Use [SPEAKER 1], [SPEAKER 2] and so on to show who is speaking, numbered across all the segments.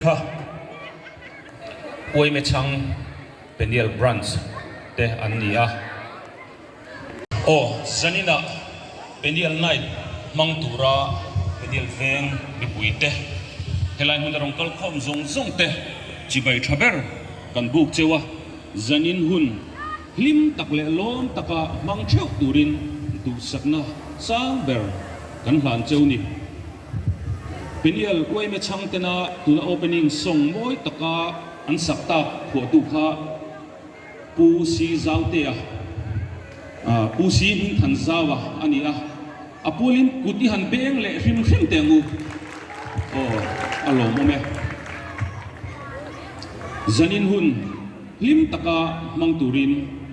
[SPEAKER 1] Tha, Uaimechang Peniel Branch te an ni a. Aw, Janina Peniel Night hmang tura Peniel Veng mipui te, helai hmun a rawn kal khawm zawng zawng te chibai tha ber kan buk cheu a, Janin hun hlim tak leh lawm taka hmang theuh turin duhsakna sang ber kan hlan cheu ni. Peniel Uaime Changtena tuna opening song mawi taka an sak tak khuahtu kha Pu Si Zautea, Pu Si Hmingthan Zau a a ni a. A pualin kut i han beng leh hrim hrim te ang u. Aw, a lawmawm e.
[SPEAKER 2] Zanin hun. Hlim taka hmang turin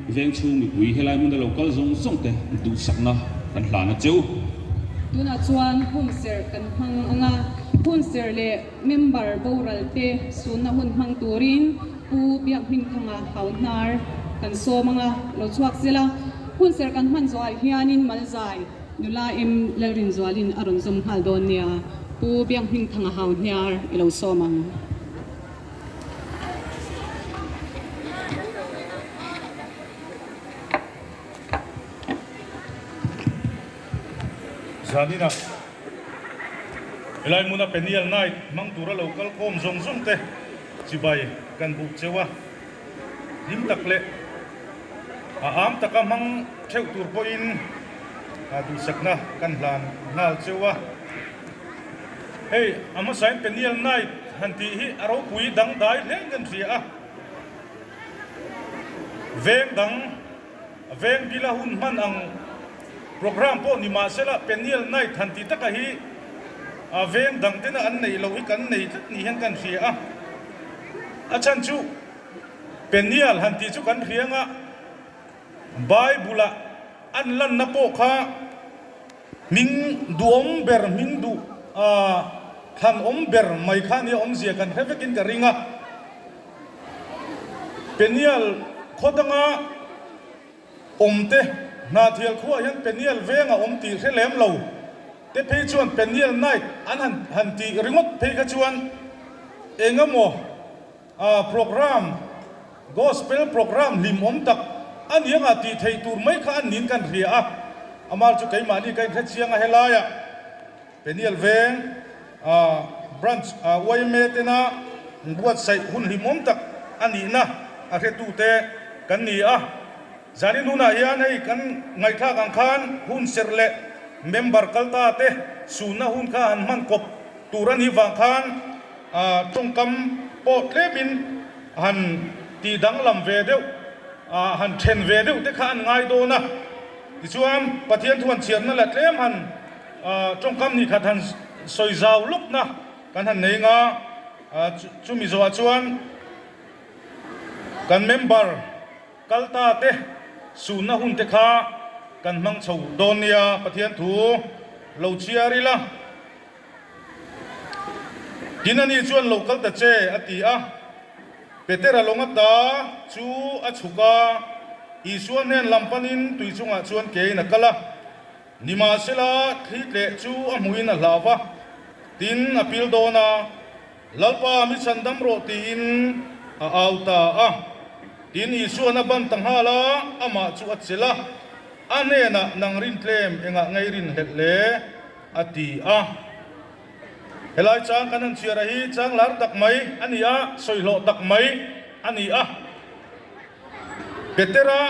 [SPEAKER 2] veng chhung mipui helai hmun a lo kal zawng zawng te duhsakna kan hlan a cheu. Tunah chuan hun serh kan hmang anga hun serh leh member boral te sunna hun hmang turin Pu Biakhnim Thanga hauhnar kan sawm anga lo chhuak zel a. Hun serh kan hman zawhah hianin Malzai nula M Lalrinzualin a rawn zawm nghal dawn nia Pu Biakhnim Thanga hauhniar i lo sawm ang. Zaninah helai hmuna Peniel night hmang tura lo kal khawm zawng zawng te chibai kan buh cheu a,
[SPEAKER 3] hlim tak leh a âam taka hmang theuh tur pawhin duhsakna kan hlan nghal cheu a. Hei, a hmasain Peniel Knight han tih hi a ropui dangdai hle ngen hria a. Veng dang, veng bila hun hman ang programme pawh ni mah sela Peniel Knight han tih taka hi a veng dang tena an neih loh hi kan nei tlat nih hian kan hria a. A chhan chu Peniel han tih chu kan hria nga Bible-ah an lanna pawh kha, Hming duhawm ber hming duh aah thlan awm ber mai kha nia awmzia kan hre vekin ka ring a Penial khaw danga awm te Hnathial khuaah hian Penial veng a awm tih hre lem lo te phei chuan Penial night an han han tih ringawt phei kha chuan engemaw Program, Gospel program hlim awm tak anianga tih theih tur mai kha an niin ka inhria a, amah chu keimahni ka inhrechiang a helai ah Peniel veng Branch yma tena buatsaih hun hlim awm tak anihna a hretute kan ni a. Zani nunah hian hei kan ngaihthlak ang khan hun serh leh member kal ta te sunna hun kha han hman kawp tur a nih vang khan tawngkam pawh tlem in han tih danglam ve deuh, han then ve deuh te kha an ngai dawn a. Tichuan Pathian thu han chhiatna leh tlem han tawngkam hnih khat han sawi zau lawkna kan han nei anga chu mi zawhah chuan kan member. Kalta te, sunna hun te kha kan hmang chho dawn nia Pathian thu lo chhiar ila. Tin ani chuan lo kal ta che a ti a. Petera lawng a ta chu a chhuk a, Isua hnen lam panin tui chungah chuan ke in a kal a. Nimahsela, thli tleh chu a hmuhin a hlava, tin a pil dawn a. Lalpa mi chhan dam rawh tiin a au ta a, tin Isua an a ban ta nghal a, amah chu a chelh a, a hnenah nang rin tlem engah ngei rin hlelh le? a ti a. Helai chang kan han chhiara hi chang lar tak mai a ni a, sawihlawh tak mai a ni a. Petera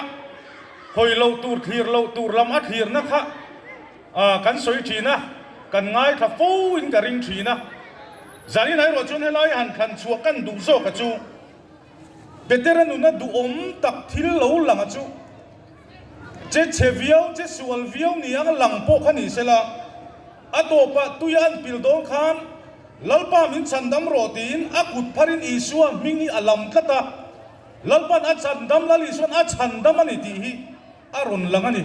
[SPEAKER 3] hawi lo tur, thlir lo tur lam a thlirna kha A kan sawi thin a, kan ngaithla fo in ka ring thin a, zan in airuah chuan helai a han thlan chhuah kan duh zawk a chu Peter a nuna duhawm tak thil lo lang a chu che chhe viau che sual viau ni ang lang pawh kha ni se la a tawpah tui a an pil dawn khan Lalpa min chhan dam rawh tiin a kut phar in Isua hming hi a lam tlat a, Lalpan a chhan dam Lal Isuan a chhan dam a ni tih hi. A rawn lang a ni.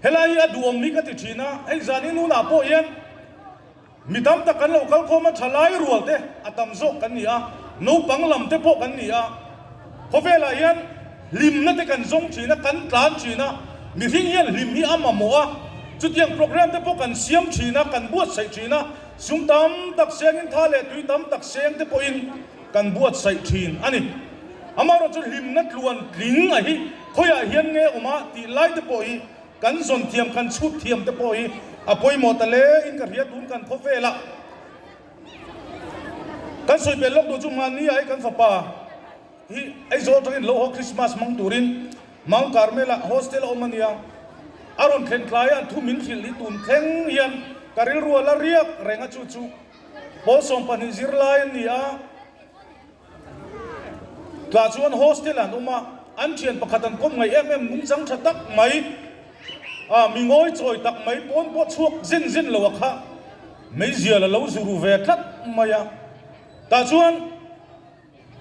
[SPEAKER 3] Helai hi a duhawm hi ka ti thin a, hei zan hi nunah pawh hian mi tam tak kan lo kal khawm a, tha lai rual te a tam zawk kan ni a, naupang lam te pawh kan ni a, khawvelah hian hlimna te kan zawng thin a, kan tlan thin a, mihring hian hlim hi a mamawh a, chutiang programme te pawh kan siam thin a, kan buatsaih thin a, sum tam tak sengin tha leh tui tam tak seng te pawhin, Kan buatsaih thin a ni. Amaherawh chu hlimna tluan tling a hi khawiah hian nge awm a tih lai te pawh hi kan zawn thiam, kan chhut thiam te pawh hi a pawimawh ta le in ka hria tun kan khawp vel a. Kan sawi pel lawk duh chu hmania hi kan fapa hi Aizawl atang in lo haw Christmas hmang turin Mount Carmel ah hostel a awm a nia. A rawn thlen thlai a thu min hrilh hi tun thleng hian ka rilrual a riak reng a chu chu. Hawlsawng pahnih zirlai an ni a, tah chuan hostel an awm a, an thian pakhat an kawm ngaih em em nungchang tha tak mai a, mi ngawi chawi tak mai pawn pawh chhuak zin zin lo a khah meizial a lo zu ru ve tlat mai a, tah chuan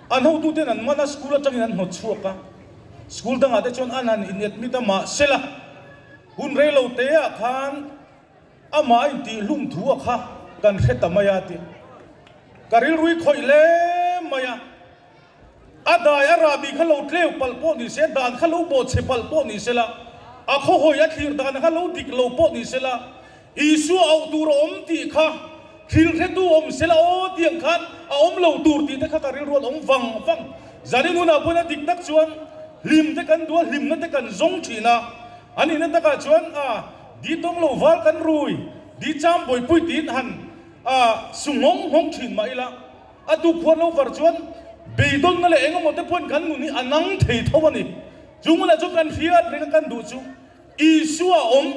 [SPEAKER 3] an hotu ten an man a school atang in an hnawt chhuak a, school dangah te chuan an han in admit a mahsela hun rei lo te ah khan. Amah intihhlung thu a kha kan hre ta mai a tih ka rilrui khawih hle mai a. A dai a rah bik kha lo tleu palh pawh ni se, dan kha lo bawh chhe palh pawh ni se la, a khawhawi a thlir dan kha lo dik lo pawh ni se la, Isua auh tur a awm tih kha thil hretu awm se la aw tiang khan a awm lo tur tih te kha ka rilrual awm vang vang. Zanin hunah pawhin a diknak chuan hlim te kan dual, hlimna te kan zawng thin a. An ina takah chuan a. Di tawng lo val kan rui, di cham buaipui tiin han su nghawng nghawng thin mah ila, a tukhuan lo var chuan beidawlna leh engemaw te pawhin kan nun hi a nang thei tho a ni. Chu ngunah chuan kan hriat reng a kan duh chu Isua a awm,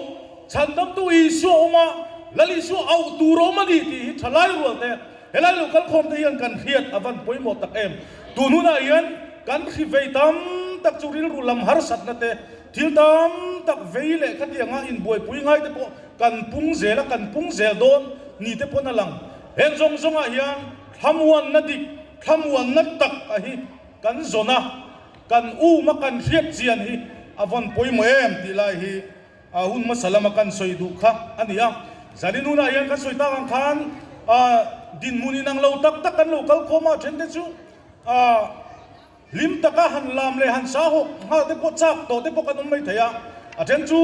[SPEAKER 3] chhandamtu Isua a awm a, Lal Isua auh tur a awm a ni tih hi thalai rualte helai lo kal khawmte hian kan hriat a van pawimawh tak em. Tunhunah hian kan hri vei tam tak chu rilru lam harsatna te, Thil tam tak vei leh khatianga inbuaipui ngai te pawh kan pung zel a, kan pung zel dawn ni te pawhin a lang. Heng zawng zawngah hian thlamuanna dik, thlamuanna tak a hi kan zawn a, kan um a, kan hriatchian hi a vawn pawimawh em tih lai hi a hun hmasa lama kan sawi duh kha a ni a. Zanin hunah hian kan sawi tak ang khan dinhmun inang lo tak tak kan lo kal khawm a, a then te chu a, Hlim taka han lam leh han sa hawk nghal te pawh chak tawh te pawh kan awm mai thei a, a then chu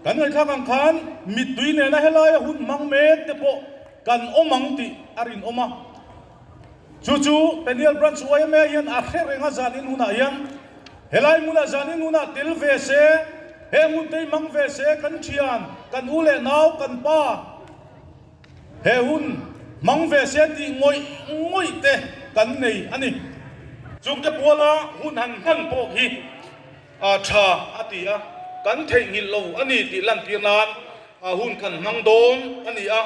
[SPEAKER 3] kan ngaihthlak ang khan mittui nena helaia hun hmang mek te pawh kan awm ang tih a rinawm a. Chu chu Peniel Branch YMA hian a hre renga zan in hunah hian helai hmuna zan in huna tel ve se, he hmun tei hmang ve se kan thian, kan u leh nau, kan pa, He hun hmang ve sia tih ngawih ngawih te kan nei a ni. Chung te bual a hun han hman pawh hi a tha a ti a, kan theih nghilh lo a ni tih lantir nan a hun kan hmang dawn a ni a.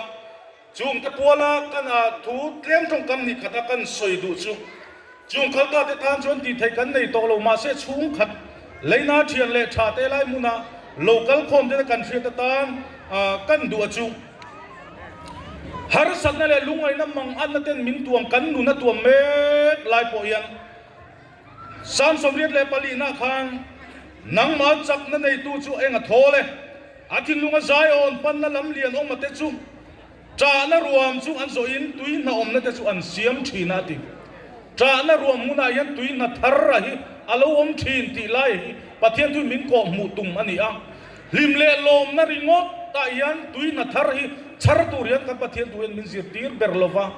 [SPEAKER 3] Chung te bual a kan a thu tlem tawngkam ni khat a kan sawi duh chu Chung khalpa te tan chuan tih theih kan nei tawh lo mahse chhungkhat leina thian leh tha te lai hmuna lo kal khawm te kan hriat atan kan duh a chuh. Harsatna leh lungngaihna mang anna ten min tuam kan nun a tuam mek lai pawh hian Samsomriat leh palihna khan nangmal chakna neitu chu eng a thawl e. A thinlung a zaiawn panna lam lian awm a te chu Chahna ruam chu an zawh in tui hna awmna te chu an siam thin a ti. Chahna ruam hmun ah hian tui hna thar rah hi a lo awm thin tih lai hi Pathian tui min kawh hmuh tum a ni a. Hlim leh lawmna ringawt ah hian tui hna thar hi chhar tur hian kan Pathian tu hian min zir tir ber lo va.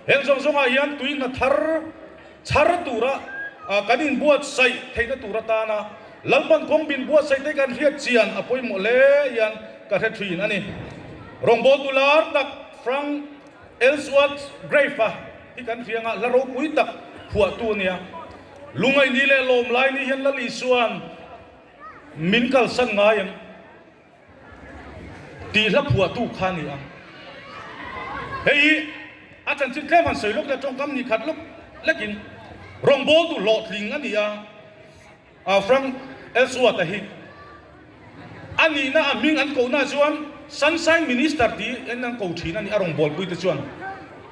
[SPEAKER 3] Heng zawng zawng ah hian tui hna thar. Chhar tura kan inbuatsaih theihna tur atana Lalpan Kawngbin buatsaih te kan hriat chian a pawimawh hle hian ka hre thin a ni. Rawngbawl tu lar tak Frank Ellsworth Grave-a hi kan rianga hla ropui tak phuahtu a nia. Lungaini leh lawmlaini hian la li chuan min kalsan ngai em? Tih hla phuahtu kha ni a. Hei hi a chanchin tlem han sawi lawk leh tawngkam ni khat lawk lekin rawngbawl duh hlawh tling a ni a. Frank Ellsworth a hi a nihna a hming an kohnaah chuan Sunshine Minister tih in an ko thin a ni a. Rawngbawlpui te chuan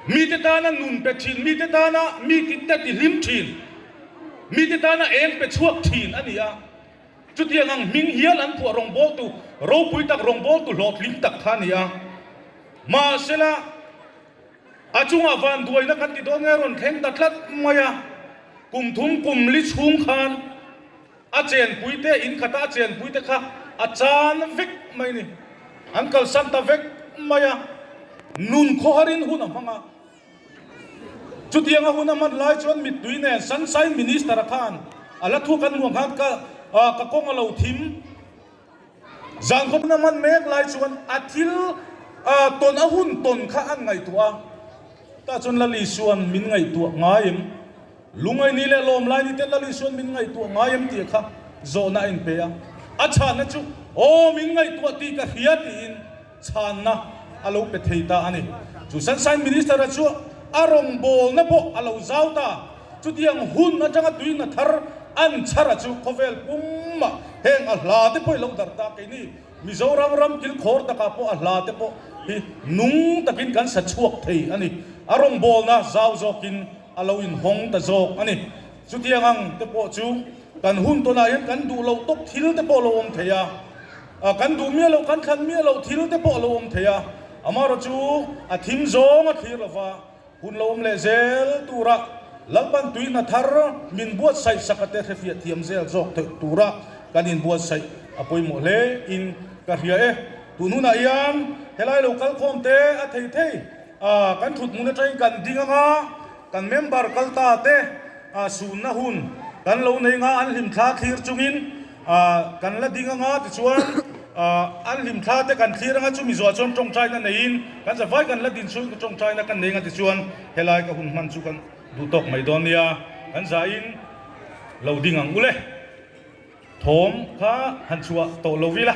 [SPEAKER 3] mite tana nun pe thin, mite tana mi kitte ti hlim thin, mite tana eng pe chhuak thin a ni a. Chutiang ang hming hial an phuah rawngbawltu ropui tak rawngbawltu hlawhtling tak kha a ni a. Mahsela, a chungah vanduaina kan ti dawn nge rawn thleng ta tlat mai a. Kum thum kum li chhung khan a chenpui te, in khata a chenpui te kha a chan vek mai a ni. An kalsan ta vek mai a, nun khawharin hun a hmang a. Chutiang a hun a man lai chuan mittui nen Sunshine Minister-a khan a la thuak an muang khan ka ka kawng a lo thim. Zan khaw hun a man mek lai chuan a thil tawn a hun tawn kha an ngaihtuah a. Tah chuan Lali chuan min ngaihtuah ngai em? Lungaini leh Lawmlaini te Lali chuan min ngaihtuah ngai em tih kha zawhna a inpe a. A chhahna chu aw min ngaihtuah tih ka hria tiin. chhanna a lo pe thei ta a ni. Chu Sunshine Minister-a chu a rawngbawlna pawh a lo zau ta. Chutiang hun atanga tuina thar an chhara chu khawvel pumah heng a hla te pawh i lo darh ta. Keini Mizoram ram kilkhawr takah pawh a hla te pawh hi nung takin kan sa chhuak thei a ni. A rawngbawlna zau zawkin a lo inhawng ta zawk a ni. Chutiang ang te pawh chu kan hun tawnah hian kan duh loh tawk thil te pawh a lo awm thei a. A kan duh miah lo, kan thlan miah lo thil te pawh a lo awm thei a, amah erawh chu a thim zawng a thlir lo va, hun lo awm leh zel turah Lalpan tui hna thar min buatsaih saka te hrefiah thiam zel zawk theih tura kan in buatsaih a pawimawh hle in ka hria e. Tun hunah hian helai lo kalkhawm te a thei thei a kan thutmun aṭangin kan ding anga kan member kal ta te a sunna hun kan lo nei nga an hlimthla thlir chungin A kan la ding anga tichuan an hlim thla te kan thlir anga chumi zawh chuan tawngtai na neiin kan za vai kan la din chhun ka tawngtai na kan nei anga tichuan helai ka hun hman chu kan duh tawk mai dawn nia kan za in lo ding ang ule thawm kha han chhuah tawh lovila.